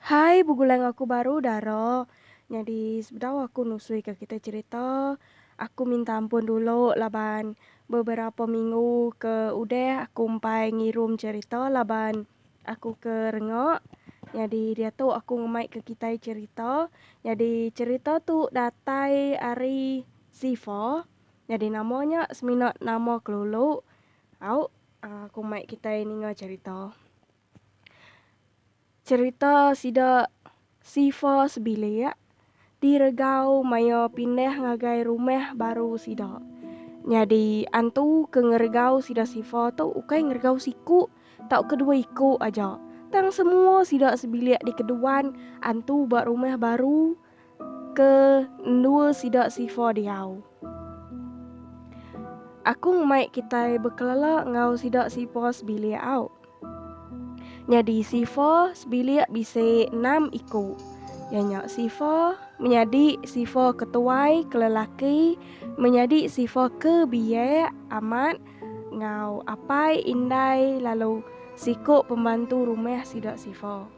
Hai begulai aku baru dara nyadi sebedau aku nusui ka kita cerita aku minta ampun dulu laban beberapa minggu ke udah aku empai ngirum cerita laban Aku ke rengok. Nyadi diatu aku ngemaika kitai cherita. Nyadi cherita tu datai ari Zifa. Nyadi nama nya semina nama kelulu. Au aku mai kitai ninga cherita. Cherita sida. Sifa sebilik di Regau maya pindah ngagai rumah baru sida. Nyadi antu ke ngeregau sida Sifa tu ukai ngeregau siku tauka dua iku aja, tang semua sida sebilik dikeduan antu ba rumah baru ke endur sida Sifa diau. Aku ngumbai kitai bekelela enggau sida Sifa sebilik au. Nyadi sifa sebilik bisi enam iku. Iya nya sifa menyadi sifa ke tuai ke lelaki menyadi sifa ke biak amat enggau apai indai lalu siku pembantu rumah sida sifa.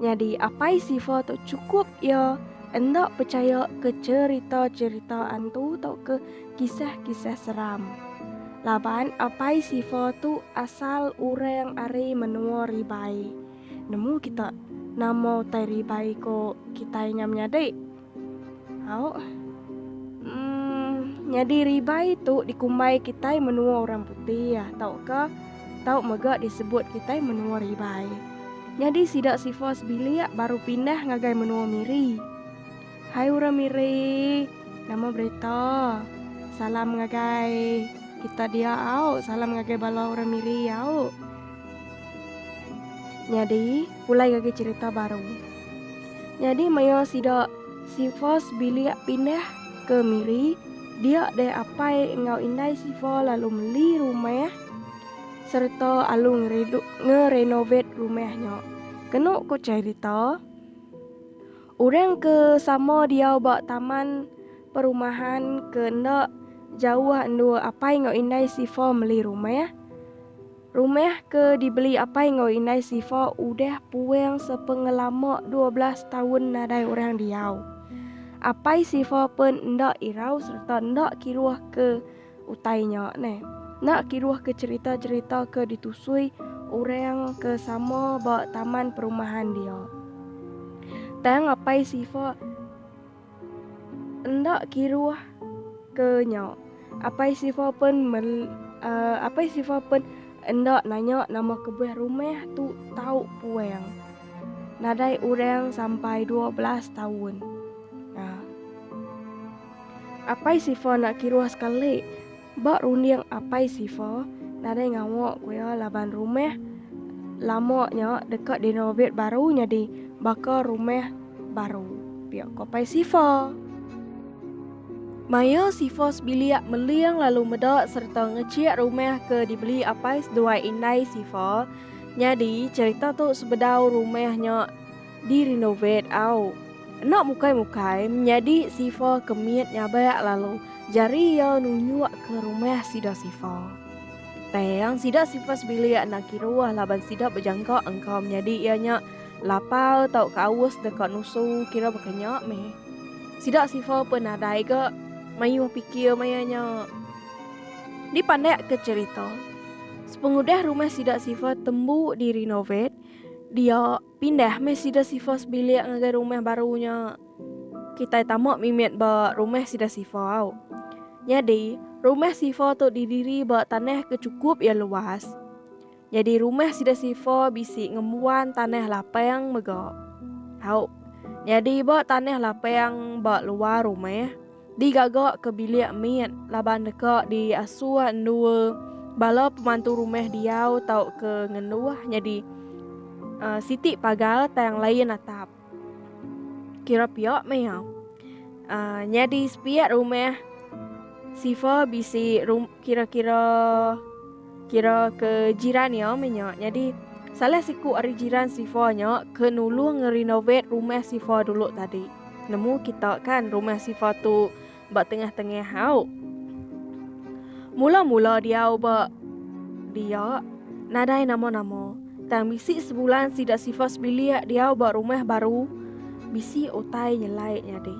Nyadi apai Siva tu chukup iya enda pechaya ke cherita-cherita antu tauka kisah-kisah seram. Laban apai Siva tu asal urang ari menua Ribai. Nemu kita nama utai Ribai ko kitai nya menyadi? Au. Umm, nyadi ribai tu dikumbai kitai menua orang putih tauka tau mega disebut kitai menua ribai. Nyadi sida sifa sebilik baru pindah ngagai menua Miri. Hai orang Miri, nama berita? Salam ngagai kita dia au, salam ngagai bala orang Miri au. Nyadi, pulai ngagai cherita baru. Nyadi maya sida Sifas bilik pindah ke Miri, dia deh apai enggau indai Sifa lalu meli rumah sereta alu ngerenovate rumah nya. Kenu ku cherita, orang ke sama diau ba taman perumahan ke enda jauh endur apai enggau indai Sifa meli rumah. Rumah ke dibeli apai enggau indai Sifa udah puang sepengelama dua belas taun nadai orang diau. Apai Sifa pun enda irau sereta enda kiruh ke utai nya ne. Enda kiruh ke cherita-cherita ke ditusui orang ke sama ba taman perumahan dia. Tang apai Sifa. Enda kiruh ke nya, Apai Siva pen mel Apai Siva pen enda nanya nama kebuah rumah tu tau puang nadai orang sampai dua belas taun. Apai Siva enda kiruh sekali. Ba runding Apai Siva nadai ngawa ku iya laban rumah lama nya deka direnovate baru nyadi baka rumah baru, pia ku Apai Siva. Maya Siva sebilik meling lalu meda sereta ngechik rumah ke dibeli apai seduai indai Siva, nyadi cherita tu sebedau rumah nya. di renovate au. Enda mukai mukai menyadi sifa ke mit nyabak lalu jari iya nunjuk ke rumah sida sifa. Tang sida sifa sebilik enda kiruh laban sida bejangka engka menyadi iya nya lapar tauka aus deka nusu kira baka nya meh. Sida sifa pun nadai ga mayuh pikir maya nya. Di pandak ke cherita. Sepengudah rumah sida sifa tembu di renovate dia. Pindah meh sida Sifas bilik ngagai rumah baru nya. Kitai tama mimit ba rumah sida Sifa au. Nyadi, rumah Sifa tu didiri ba tanah ke chukup iya luas. Nyadi rumah sida Sifa bisi ngembuan tanah lapang mega. Au, nyadi ba tanah lapang ba luar rumah. digaga ke bilik mit laban deka diasu endua bala pemantu rumah diau tauka ngenduh nyadi uh, siti pagar tang lain atap. Kira pia meh ya. Uh, nyadi sepiak rumah Siva bisi rum, Kira-kira kira ke jiran iya meh nya. Nyadi salah siku ari jiran Sifa nya ke nulung ngerenovate rumah Sifa dulu tadi. Nemu kita kan rumah Sifa tu ba tengah-tengah au. Mula-mula diau ba dia nadai nama-nama. Tang bisi sebulan sida Sifa sebilik diau ba rumah baru bisi utai nyelai nyadi.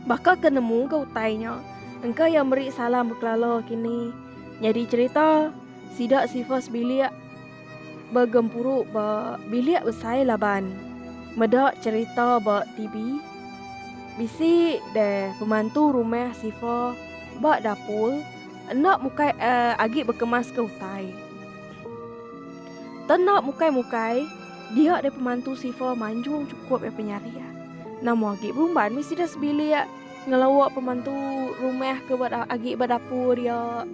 Baka ke nemu ke utai nya. Engka iya meri salam bekelala kini nyadi cherita sida sifas bilik begempuru ba bilik besai laban meda cherita ba TV. Bisi deh pemantu rumah sifa ba dapur enda mukai agi bekemaska utai. Tang enda mukai-mukai dia deh pemantu sifa manjung chukup iya penyariah. Nama agi berumban meh sida sebilik. Ngelawa pemantu rumah ke ba agi ba dapur iya.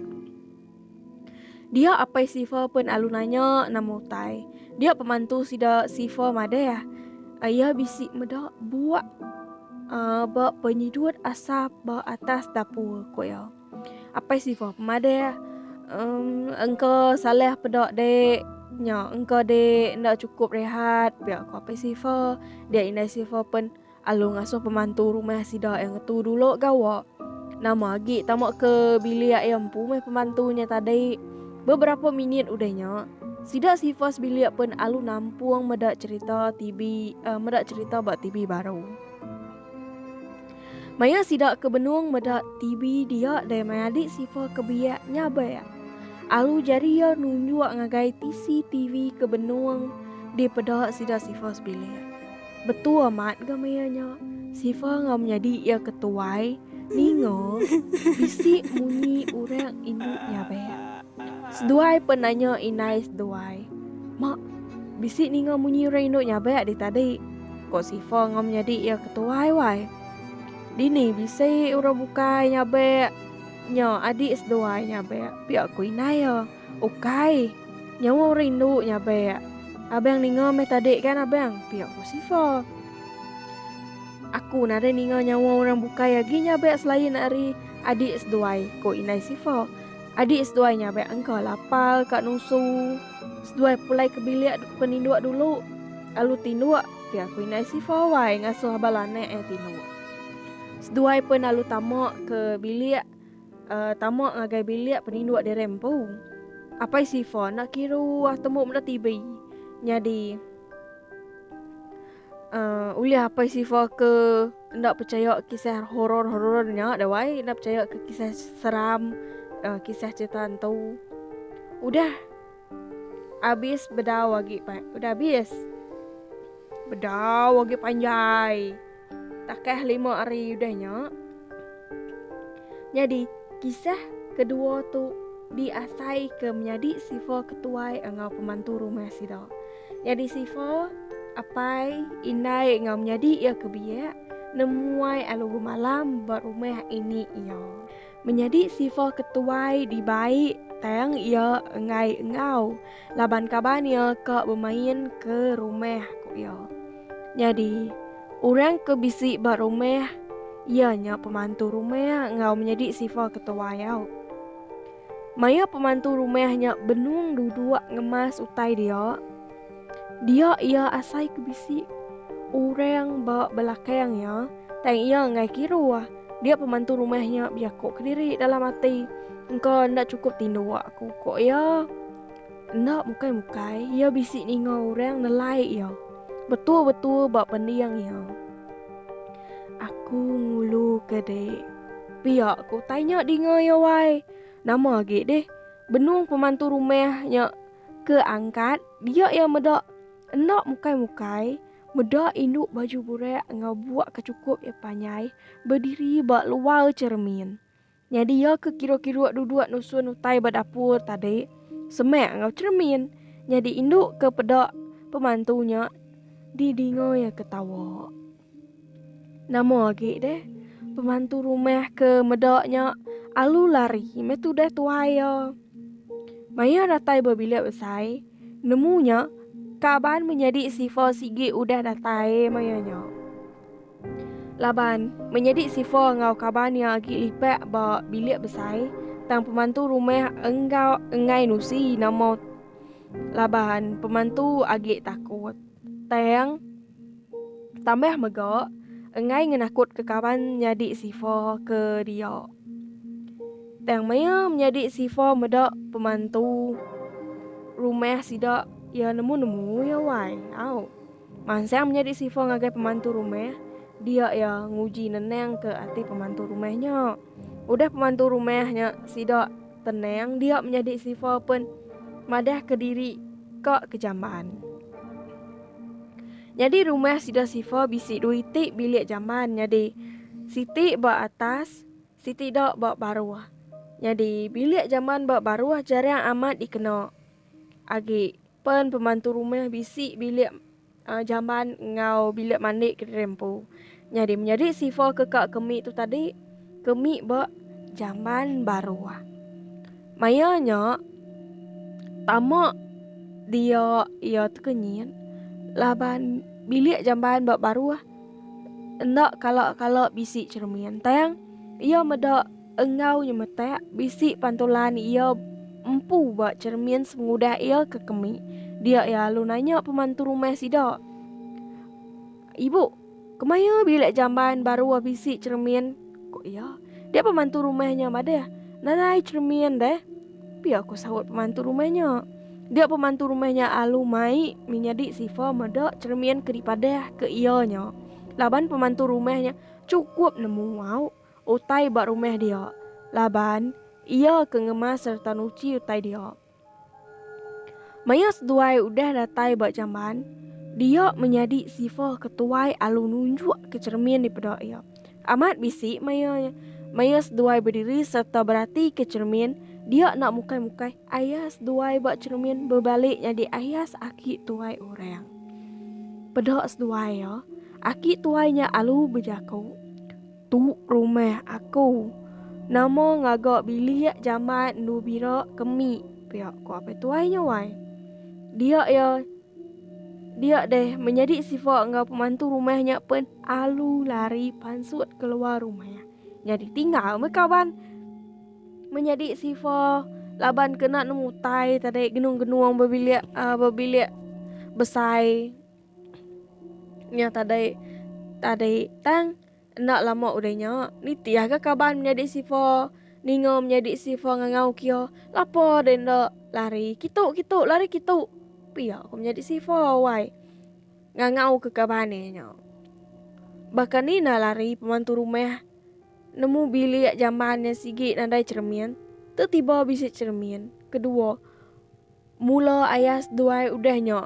Dia apai Siva pen alu nanya nama utai. Dia pemantu sida Siva madah iya bisi meda buak uh, ba penyidut asap ba atas dapur ku iya. Apai Siva pemadah um, engka salah peda dek nya engka dek nda cukup rehat pia ku apai Siva. Dia indai Siva pen Alu ngasuh pemantu rumah sida iya ngetu dulu gawa. Nama agi tama ke bilik iya empu meh pemantu nya tadi. Beberapa minit udah nya, sida sifa sebilik pen alu nampung meda cherita TV, uh, meda cherita ba TV baru. Maya sida ke benung meda TV dia dai mai adik sifa ke biak nyabak. Alu jari iya nunjuk ngagai TCTV ke benung dipeda sida sifa sebilik. Betu amat ga maya nya. Siva ngau menyadi iya ke tuai ninga bisi munyi orang indu nyabek. Seduai pun nanya indai seduai. Mak, bisi ninga munyi orang indu nyabek di tadi. Ko Siva ngau menyadi iya ke tuai wai. Dini bisi orang bukai nyabek nya adik seduai nyabek pia ko indai iya. Ukai. Nyawa orang indu nya abek. Abang ninga meh tadi kan abang, pia ku Sifa. Aku nadai ninga nyawa orang bukai agi nya abek selain ari adik seduai, ku indai Sifa. Adik seduai nya abek engka lapal ka nusu. Seduai pulai ke bilik peninduk dulu. Alu tinduk, pia ku indai Sifa wai ngasuh bala anak iya tinduk. Seduai pen alu tama ke bilik. uh, tama ngagai bilik peninduk di rempu. Apai Sifa nak kira wah temu mula TV. Nyadi uh, ulih apai Sifa ke ndak percaya kisah horor-horor nya dah wai, ndak percaya ke kisah seram, uh, kisah cerita hantu. Udah habis bedau lagi, Pak. Udah habis. Bedau lagi panjai. Takah lima hari udah nya. Nyadi, kisah kedua tu diasai ke menyadi sifa ketuai enggau pemantu rumah sida. Nyadi sifa apai, indai enggau menyadi iya ke biak nemuai alu gemalam ba rumah ini iya. Menyadi sifah ke tuai dibai tang iya enggai enggau laban kaban iya ka bemain ke rumah ku iya. Nyadi orang ke bisi ba rumah iya nya pemantu rumah enggau menyadi sifah ke tuai au. Maya pemantu rumah nya benung duduk ngemas utai dia, Dia iya asai ke bisi orang ba belakang iya, tang iya enggai kiruh. Dia pemantu rumah nya beyako kediri dalam ati, Engka enda chukup tinduk aku, ko iya. Enda mukai-mukai, iya bisi ninga orang nelai iya betul-betul ba pending iya. Aku nguluka dek. Pia ku utai nya dinga iya wai. Nama agi deh benung pemantu rumah nya Ke angkat, dia iya meda enda mukai-mukai, meda indu baju burak enggau buak ke chukup iya panjai bediri ba luar cheremin. Nyadi iya ke kiru-kiru duduk nusun utai ba dapur tadi semak enggau cheremin. Nyadi indu ke peda pemantu nya didinga iya ke tawa. Nama agi deh pemantu rumah ke meda nya alu lari meh tudah tuai iya. Maya datai ba bilik besai, nemu nya kaban menyadi Sifa sigi udah datai maya nya. Laban menyadi Sifa enggau kaban iya agi lipat ba bilik besai, tang pemantu rumah enggau enggai nusi nama laban pemantu agi takut. Tang, tambah mega enggai ngenakutka kaban nyadi sifa ke dia. Tang maya menyadi sifa meda pemantu rumah sida ya nemu-nemu ya wai. Au. Mansang menyadi sifa ngagai pemantu rumah, dia ya nguji nenangka ati pemantu rumah nya. Udah pemantu rumah nya sida Tenang dia menyadi sifa pen madah ke diri ka ke jamban. Nyadi rumah sida sifa bisi dua iti bilik jamban nyadi siti ba atas siti da ba baruh. Nyadi bilik jamban ba baruh jarang amat dikena agi pen pemantu rumah bisi bilik Uh, jamban enggau bilik mandi ke diri empu. Nyadi menyadi sifa ke ka kemi tu tadi, kemi ba jamban baru. Maya nya tama dia ia tekenyit laban bilik jamban ba baru enda kala-kala bisi cermin tang ia meda Enggau nyemetak bisi pantulan iya empu ba cheremin semengudah iya ke kemi, dia iya lalu nanya pemantu rumah sida, Ibu, kemaya bilik jamban baru ah bisi cheremin? ku iya. Dia pemantu rumah nya madah, Nadai cheremin deh. Pia ku saut pemantu rumah nya. Dia pemantu rumah nya lalu mai menyadi sifa meda cheremin ke dipadah ke iya nya. Laban pemantu rumah nya chukup nemu au. utai ba rumah dia, laban Iya ke ngemas sereta nuchi utai dia. Maya seduai udah datai ba jamban, dia menyadi sifa ke tuai alu nunjuk ke cheremin dipeda iya. Amat bisi maya maya seduai bediri sereta berati ke cheremin, dia enda mukai-mukai ayah seduai ba cheremin bebalik nyadi ayas aki tuai orang. Peda seduai iya, aki tuai nya alu bejaku. Tu rumah aku. Nama ngaga bilik jamat endu bira kemi pia ku apai tuai nya wai. Dia iya dia deh menyadi sifa enggau pemantu rumah nya pen alu lari pansut keluar rumah. Nyadi tinggal meh kaban. Menyadi sifa laban kena nemu utai tadi genung-genung bebilik uhh bebilik besai. Nya tadai tadai tang enda lama udah nya nitih aga kaban menyadi sifa ninga menyadi sifa ngangau kia lapo deh enda lari kitu kitu lari kitu pia ko menyadi sifa wai ngangau ke kaban e nya baka ni enda lari pemantu rumah nemu bilik jamban nya sigi nadai cermin tu tiba bisi cermin kedua Mula ayas duai udah nya,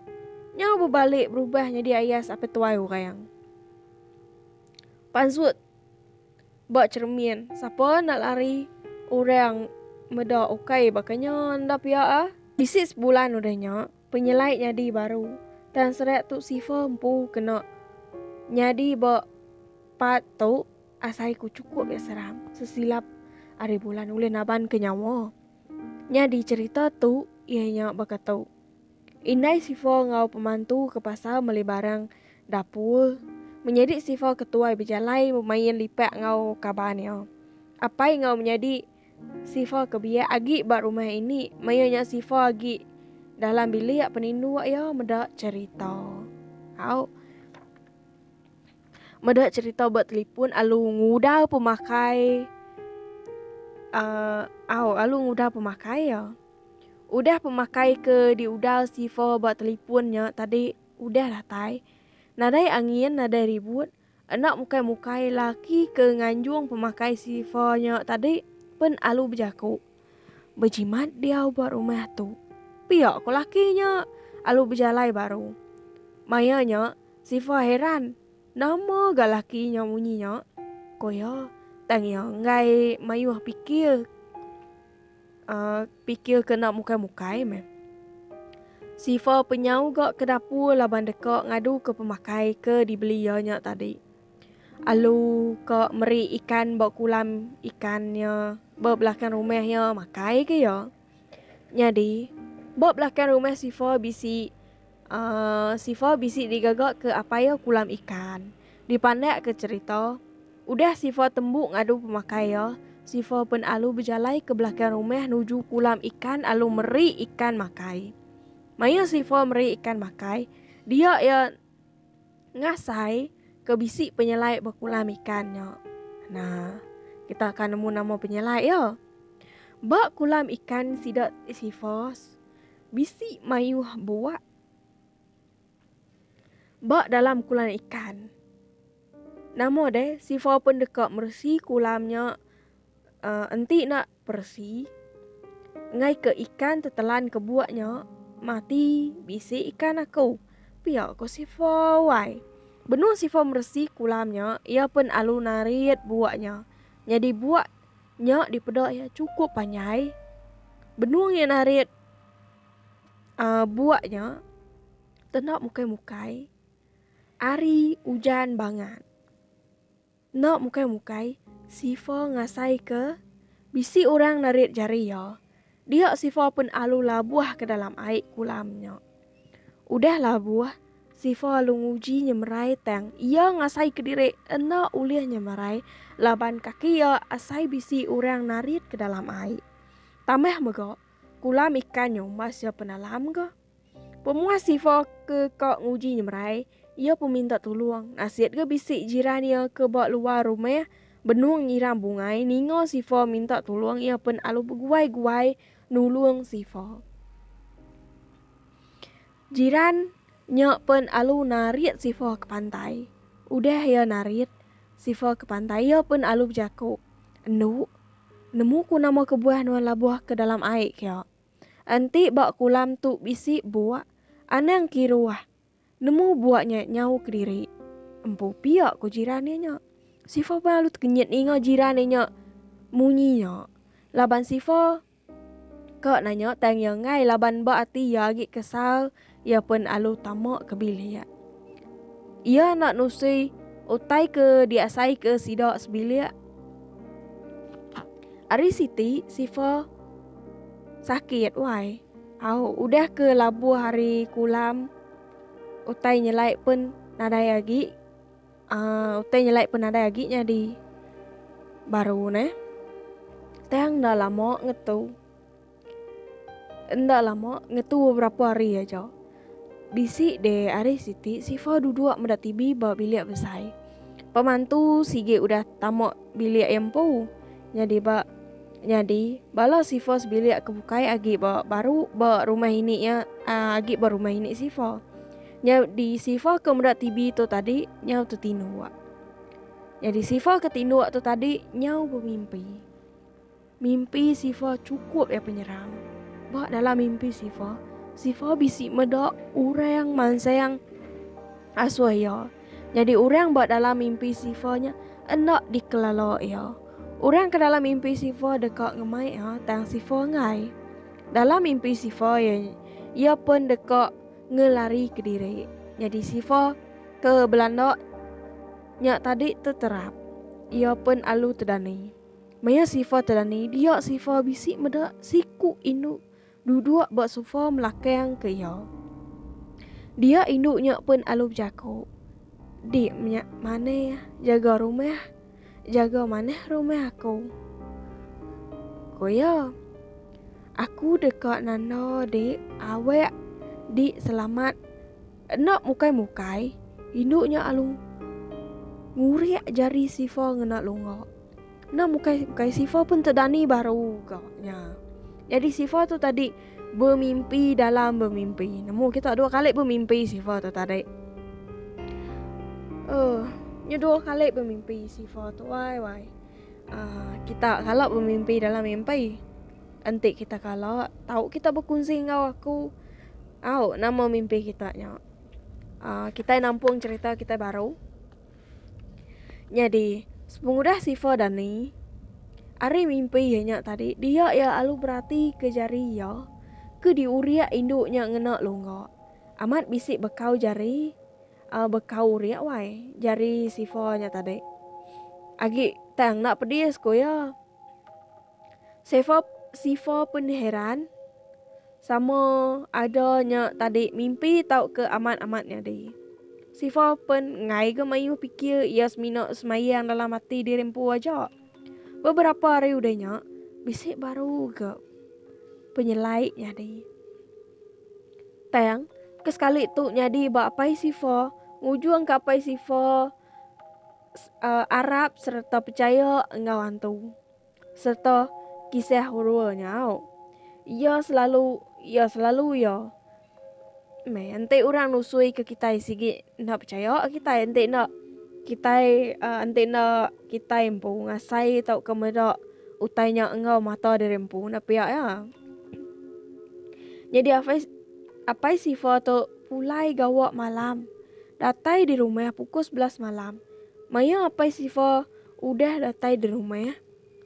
nyau bebalik berubah nyadi ayas ape tuai orang. Pansut ba cermin, sapa enda lari orang meda ukai baka nya enda pia ah. Bisi sebulan udah nya, penyelai nyadi baru. Tang serak tu Sifa empu kena nyadi ba part tu asai ku chukup ya seram. Sesilap ari bulan ulih nabanka nyawa. Nyadi cherita tu iya nya baka tu. Indai Sifa enggau pemantu ke pasar meli barang dapur. Menyadi Sifa ke tuai bejalai bemain lipak enggau kaban iya. Apai enggau menyadi Sifa ke biak agi ba rumah ini maya nya Sifa agi dalam bilik peninduk iya meda cherita. Au. Meda cerita ba telefon alu nguda pemakai uh, au alu nguda pemakai ya. Udah pemakai ke diuda sifa ba telefon nya tadi udah datai. Nadai angin, nadai ribut. Anak mukai-mukai laki ke nganjung pemakai sifa nya tadi pen alu bejaku. Bejimat diau ba rumah tu. Pia ko laki nya alu bejalai baru. Maya nya Sifa heran nama ga laki nya munyi nya. Ko iya tang iya enggai mayuh pikir uh, pikir kena mukai-mukai meh. Sifa penyau ga ke dapur laban deka ngadu ke pemakai ke dibeli iya nya tadi. Alu ka meri ikan ba kulam ikan nya ba belakang rumah iya makai ke iya. Nyadi ba belakang rumah Sifa bisi uh, Sifa bisi digaga ke apai iya kulam ikan. Dipandak ke cerita, udah Sifa tembu ngadu pemakai iya, Sifa pen alu bejalai ke belakang rumah nuju kulam ikan alu meri ikan makai. Maya Sifa meri ikan makai, dia iya Ngasai ke bisi penyelai bekulam ikan nya. Nah, kita akan nemu nama penyelai ya. Ba kulam ikan sida Sisyphus bisi mayuh buak. Ba dalam kulam ikan. Nama deh Sisyphus pun deka meresi kulam nya uh, enti nak Persi, ngaika ikan tu telan ke buak nya, mati bisi ikan aku. Pia ko Sifa wai. Benung Sifa meresi kulam nya, iya pen alu narit buak nya. Nyadi buak nya dipeda iya cukup panjai. Benung iya narit uh, buak nya, tenda mukai-mukai. Ari ujan bangat. Enda mukai-mukai, Sifa ngasaika bisi orang narit jari iya. Dia Sifa pen alu labuh ke dalam ai kulam nya. Udah labuh, Sifa alu nguji nyemerai tang iya ngasaika diri enda ulih nyemerai laban kaki iya asai bisi orang narit ke dalam ai. Tambah mega, kulam ikan nya masih penalam ga. Pemuah Siva ke ka nguji nyemerai, iya pun minta tulung. Nasit ga bisi jiran iya ke ba luar rumah benung nyiram bungai ninga Siva minta tulung iya pun alu beguai-guai nulung Siva. Jiran nya pun alu narit Siva ke pantai. Udah iya narit Siva ke pantai iya pun alu bejaku, Endu, nemu ku nama kebuah nuan labuh ke dalam ai ke. Enti ba kulam tu bisi buak, anang kiruah nemu buak nya nyau kediri. Empu pia ku jiran iya nya. Sifa pan lalu tekenyit ninga jiran iya nya munyi nya. Laban Sifa ka nanya tang iya enggai laban ba ati iya agi kesal. Iya pen alu tama ke bilik. Iya enda nusi utai ke diasaika sida sebilik. Ari siti Sifa sakit wai. Au udah ke labuh hari kulam utai nyelai pen nadai agi uh, utai nyelai pen nadai agi nyadi baru ne. Tang dah lama ngetu. Enda lama, ngetu beberapa hari aja, bisi deh ari siti Sifa duduk meda TV ba bilik besai. Pemantu sigi udah tama bilik iya empu. Nyadi ba nyadi bala Sifa sebilik ke bukai agi ba baru ba rumah ini iya agi ba rumah ini Sifa. Nyadi Sifa ke meda TV tu tadi nyau tu tinduk. Nyadi Sifa ke tinduk tu tadi nyau bemimpi. Mimpi Siva chukup iya penyeram. Ba dalam mimpi Siva, Siva bisi meda orang mansang asuh iya. Nyadi orang ba dalam mimpi Siva nya enda dikelala iya. Orang ke dalam mimpi Siva deka ngemai iya tang Siva enggai. Dalam mimpi Siva iya, iya pen deka ngelari kediri. Nyadi Siva ke belanda nya tadi teterap. Iya pen alu tedani. Maya Sifa terani dia Sifa bisi meda siku indu duduk ba sofa melakang ke iya. Dia indu nya pen alu bejaku. Dik menya manah jaga rumah jaga manah rumah aku. Ku iya. Aku deka nanda dik awak dik selamat. Enda mukai-mukai, indu nya alu ngurik jari Sifa ngena lunga. Enda mukai-mukai, Sifa pun tedani baru ga nya. Jadi Sifa tu tadi bemimpi dalam bemimpi. Nemu kita dua kali bemimpi Sifa tu tadi. Eh, uh, nya dua kali bemimpi Sifa tu wai wai. Uh, kita kalau bemimpi dalam mimpi, Enti kita kala, tau kita bekunsi enggau aku. Au, nama mimpi kita nya? Uh, kita nampung cerita kita baru. Nyadi, sepengudah Sifa dan Ni, ari mimpi iya nya tadi, dia ia alu berati ke jari iya ke diuriak indu nya ngena lungga. Amat bisi bekau jari, uh, bekau uriak wai, jari Sifa nya tadi. Agi tang nak pedis, ku iya. Sifa sifa pun heran sama ada nya tadi mimpi tauka amat-amat nyadi. Sifa pun ngai ga mayuh fikir ia semina semayang dalam ati diri empu aja. Beberapa hari udah nya, bisi baru ga penyelai nyadi. Tang, ke sekali tu nyadi ba apai Sifa, ngujung ke apai Sifa uh, arap serta percaya enggau hantu. sereta kisah Urua nyau. Iya selalu iya selalu iya. Meh enti orang nusui ke kitai sigi enda pechaya kitai enti enda kitai uh, enti enda kitai empu ngasai tauka meda utai nya enggau mata diri empu enda pia ya. Nyadi apai apai Siva tu pulai gawa malam. Datai di rumah pukul 11 malam. Maya apai Siva Udah datai di rumah.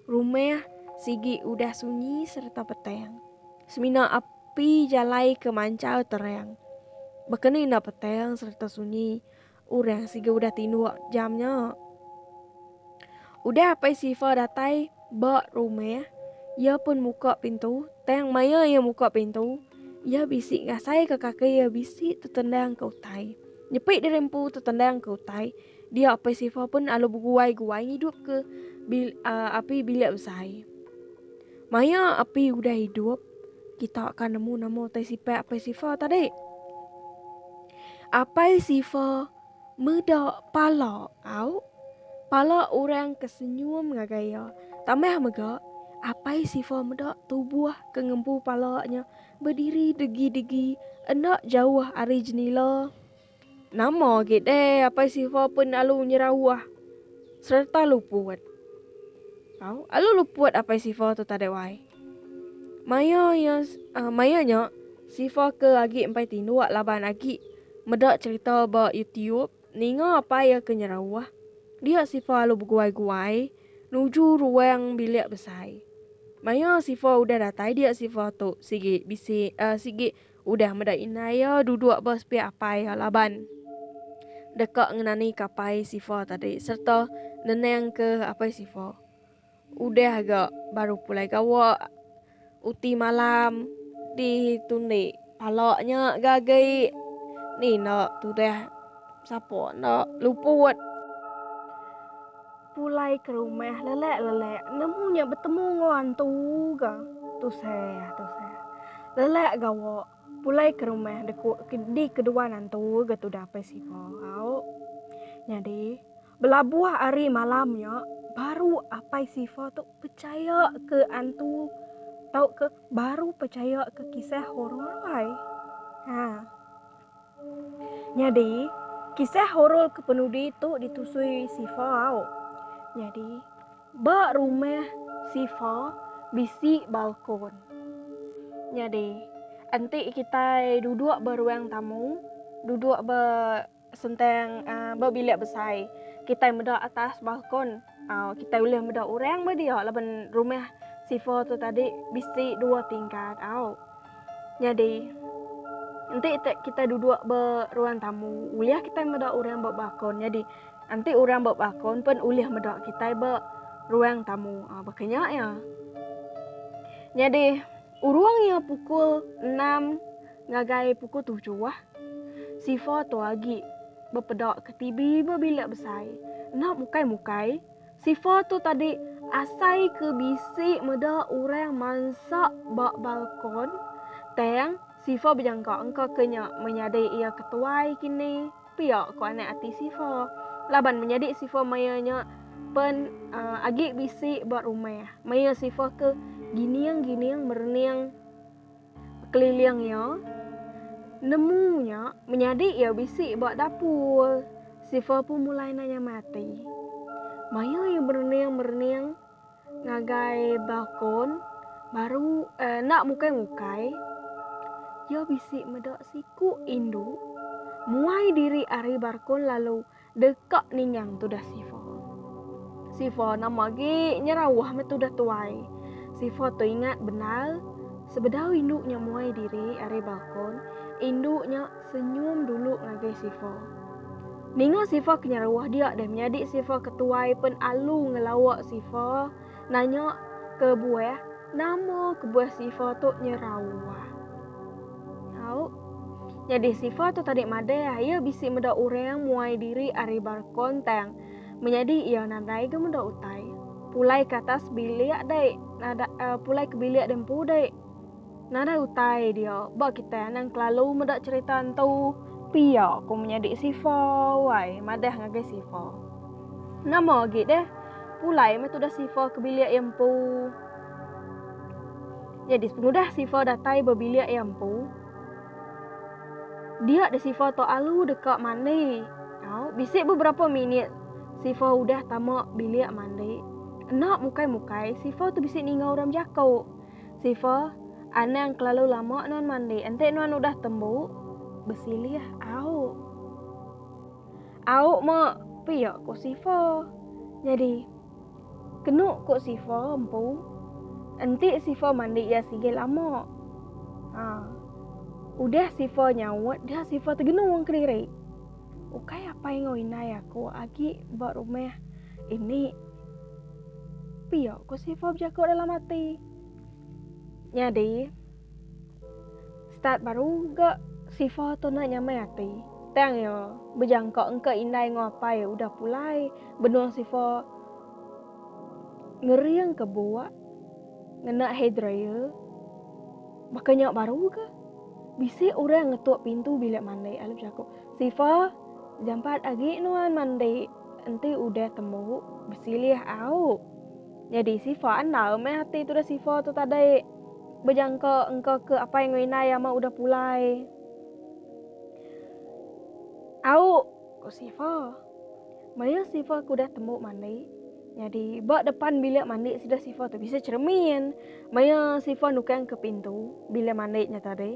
Rumah sigi udah sunyi sereta petang. Semina api jalai ke manchau terang. Baka ni enda petang sereta sunyi, orang sigi udah tinduk jam nya. Udah Apai Siva datai ba rumah, iya pun muka pintu, tang maya iya muka pintu, iya bisi ngasaika kaki iya bisi tetendang ke utai. Nyepi diri empu tetendang ke utai. Dia apai Sifa pun lalu beguai-guai ngidupka bil, uh, api bilik besai. Maya api udah hidup, kita akan nemu nama utai sifat apai Sifa tadi. Apai Sifa meda pala au pala orang ke senyum ngagai ia. Tambah mega, apai Sifa meda tubuh ke ngempu palanya berdiri degi-degi enda jauh ari jenila. Nama agi deh Apai Siva pen alu nyerawah sereta luput. Tau, alu luput Apai Siva tu tadai wai. Maya ya, uh, maya nya Siva ke agi empai tinduk laban agi meda cerita ba YouTube ninga apai ya ke nyerawah. Dia Siva alu beguai-guai nuju ruang bilik besai. Maya Siva udah datai dia Siva tu sigi bisi uh, sigi Udah meda indai iya duduk ba sepiak apai iya laban deka ngenanika apai Sifa tadi sereta nenangka apai Sifa. Udah ga baru pulai gawa uti malam ditundi pala nya ga agi ni enda tudah sapa enda luput. Pulai ke rumah lelak-lelak nemu nya betemu enggau antu ga. Tusah, tusah. Lelak gawa pulai ke rumah deku di keduan antu ga tudah apai siva au. Nyadi, belabuh ari malam nya baru apai siva tu pechaya ke antu tauka baru pechaya ke kisah orang rambai. Ha. Nyadi, kisah horor kepenudi tu ditusui Sifa au. Nyadi, ba rumah Sifa bisi balkon. Nyadi, enti kitai duduk ba ruang tamu, duduk ba sentang ba bilik besai, kitai meda atas balkon. Uh, kita ulih meda orang ba dia laban rumah Sifa tu tadi bisi dua tingkat. Au. Jadi enti kita duduk ba ruang tamu, ulih kita meda orang ba bakon. Jadi enti orang ba bakon pun ulih meda kita ba ruang tamu. Ah, bakanya ya. Jadi Urung iya pukul enam ngagai pukul tujuh, Sifa tu agi bepeda ke TV ba bilik besai. Enda mukai-mukai, Sifa tu tadi asai ke bisi meda orang mansa ba balkon. Tang, Sifa bejangka engka ke nya menyadi iya ketuai kini. pia ko anak ati Sifa. Laban menyadi Sifa maya nya pen uh, agi bisi ba rumah. Maya Sifa ke gining-gining merening keliling iya, nemu nya menyadi iya bisi ba dapur. Sifa pun mulai nanya mati. Maya iya merening-merening, ngagai balkon baru enda mukai-mukai, iya bisi meda siku indu muai diri ari balkon lalu deka ningang tudah Siva. Siva nama agi nyerawah meh tudah tuai. Siva teingat bendar sebedau indu nya muai diri ari balkon, indu nya Senyum dulu ngagai Sifa. Ninga Sifa ke nyeruah dia deh menyadi Sifa ke tuai pen alu ngelawa Sifa nanya kebuah nama kebuah Sifa tu nyeruah. Nyau. Nyadi Sifa tu tadi madah iya bisi meda orang muai diri ari barkon tang menyadi iya nadai ga meda utai. Pulai ke atas bilik dai nada uh, pulai ke bilik dai empu dai. Nadai utai dia, ba kitai anang kelalu meda cherita entu. Pia ku menyadi Sifa wai madah ngagai Sifa. Nama agi deh, pulai meh tudah Sifa ke bilik iya empu. Nyadi pengudah Sifa datai ba bilik iya empu, dia deh Sifa tu alu deka mandi. Au, bisi beberapa minit Sifa udah tama bilik mandi. Enda mukai-mukai, Sifa tu bisi ninga orang bejaku. Sifa, Anang kelalu lama nuan mandi, enti nuan udah tembu, besilih auk. Auk mak pia ku Sifa. Nyadi kenu ku Sifa empu, enti Sifa mandi iya sigi lama. Ha. Udah Sifa nyaut, dia Sifa tegenu wang kediri. Ukai apai enggau indai aku agi ba rumah ini. Pia, ku Siva bejaku dalam ati. Nyadi, start baru ga Siva tu enda nyamai ati. Tang iya bejangka engka indai enggau apai udah pulai benung Siva ngering ke buak ngena hair dryer. Baka nya baru ga bisi orang ngetuk pintu bilik mandi lalu bejaku, Siva, jampat agi nuan mandi. Enti udah temu besilih au. Nyadi sifa andal meh ati tudah sifa tu tadi. Bejangka engka ke apai enggau indai ama udah pulai. Au, ku sifa. Maya sifa ke udah temu mandi. Nyadi ba depan bilik mandi sida sifa tu bisi cheremin. Maya sifa nukangka pintu bilik mandi nya tadi.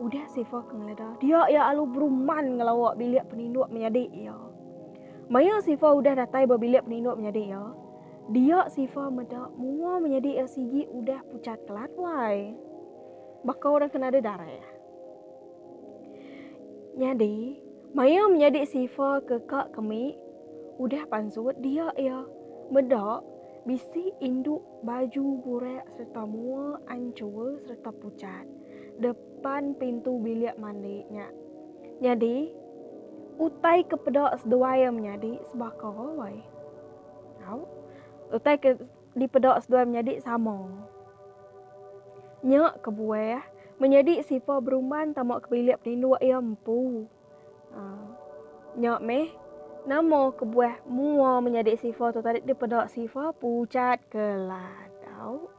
Udah Sifa ke ngeleda, dia iya alu beruman ngelawa bilik peninduk menyadi iya. Maya Sifa udah datai ba bilik peninduk menyadi iya, dia Sifa meda mua menyadi iya sigi udah pucat kelat wai. Baka orang ke nadai darah. Nyadi, maya menyadi Sifa ke ka kemik udah pansut, dia iya meda bisi indu Baju burak sereta mua anchur sereta pucat depan pintu bilik mandi nya. Nyadi, utai ke peda seduai iya menyadi sebaka alai. Au, utai ke dipeda seduai menyadi sama. Nya kebuah menyadi Siva berumban tama ke bilik peninduk iya empu. Nya meh, nama kebuah mua menyadi sifa tu tadi dipeda sifa pucat keladau?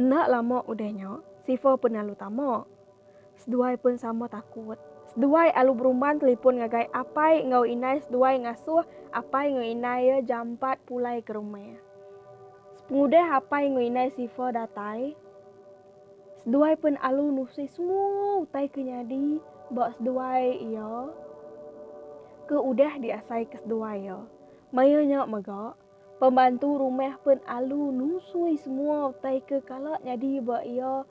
Enda lama udah nya, sifa pun lalu tama. Seduai pun sama takut. Seduai alu berumban telipun ngagai apai enggau indai seduai ngasuh apai enggau indai iya jampat pulai ke rumah. Sepengudah apai enggau indai sifa datai, Seduai pen alu nusih semua utai ke nyadi ba seduai iya ke udah diasaika seduai iya. Maya nya mega, pembantu rumah pen alu nusui semua utai ke kala nyadi ba iya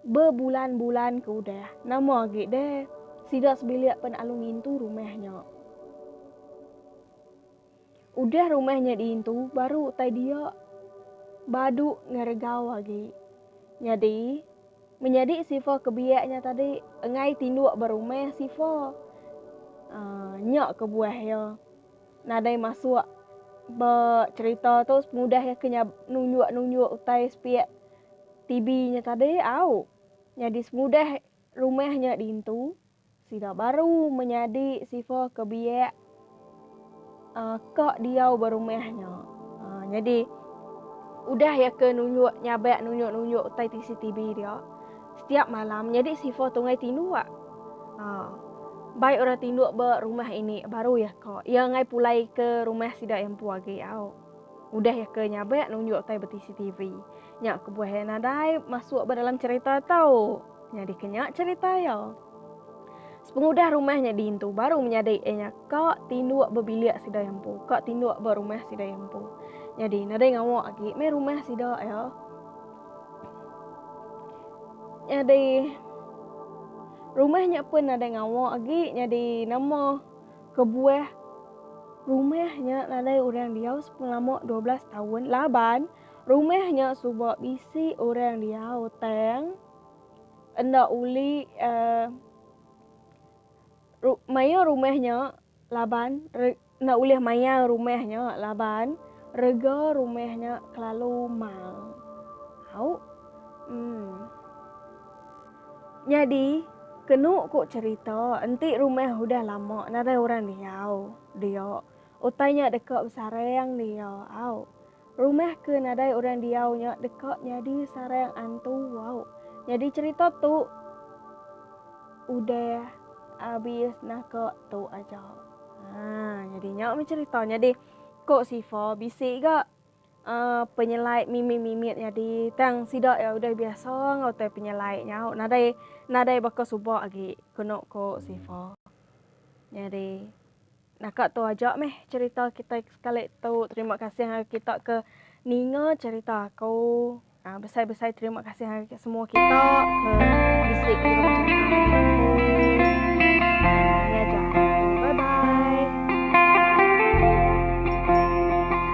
bebulan-bulan ke udah. Nama agi deh, sida sebilik pen alu ngintu rumah nya. Udah rumah nya diintu baru utai dia badu ngeregau agi. Nyadi, menyadi Siva ke biak nya tadi enggai tinduk ba rumah Siva. Aa nya kebuah iya nadai masuk ba cherita tu pengudah iya ke nunjuk-nunjuk utai sepiak TV nya tadi au. Nyadi semudah rumah nya diintu. Sida baru menyadi sifa ke biak uh, ka diau berumah nya. Uh, jadi udah ya ke nunjuk nyabak nunjuk-nunjuk utai CCTV dia setiap malam jadi sifa tungai tinduk. Uh, ah, baik orang tinduk ba rumah ini baru ya ka. Ia ngai pulai ke rumah sida yang empu agi au. Udah ya ke nyabak nunjuk utai CCTV. Nya kebuah nadai masuk ba dalam cerita tau. Nyadi ke nya cherita iya. Sepengudah rumah nya diintu baru menyadi iya nya ka tinduk ba bilik sida iya empu, ka tinduk ba rumah sida iya empu. Nyadi nadai ngawa agi meh rumah sida iya. Nyadi rumah nya pun nadai ngawa agi nyadi nama kebuah rumah nya nadai orang diau sepengelama dua belas taun laban. Rumah nya suba bisi orang diau tang enda uli uh, ru, maya rumah nya laban re, enda ulih maya rumah nya laban rega rumah nya kelalu mal. Au. Hmm. Nyadi kenu ku cerita enti rumah udah lama nadai orang diau dia utai nya deka besarang dia. Au. Rumah ke nadai orang diau nya deka nyadi sarang antu wau. Nyadi cherita tu udah abis naka tu aja. Ha nyadi nya meh cherita nyadi ko Sifa bisi ga uh, penyelai mimit-mimit nyadi tang sida ya udah biasa enggau utai penyelai nyau nadai nadai baka suba agi keno ko Sifa. Nyadi Naka tu aja meh cerita kita sekali tu. Terima kasih ngagai kita ke ninga cerita aku. Ah, besai-besai terima kasih ngagai semua kita ke bisi kirim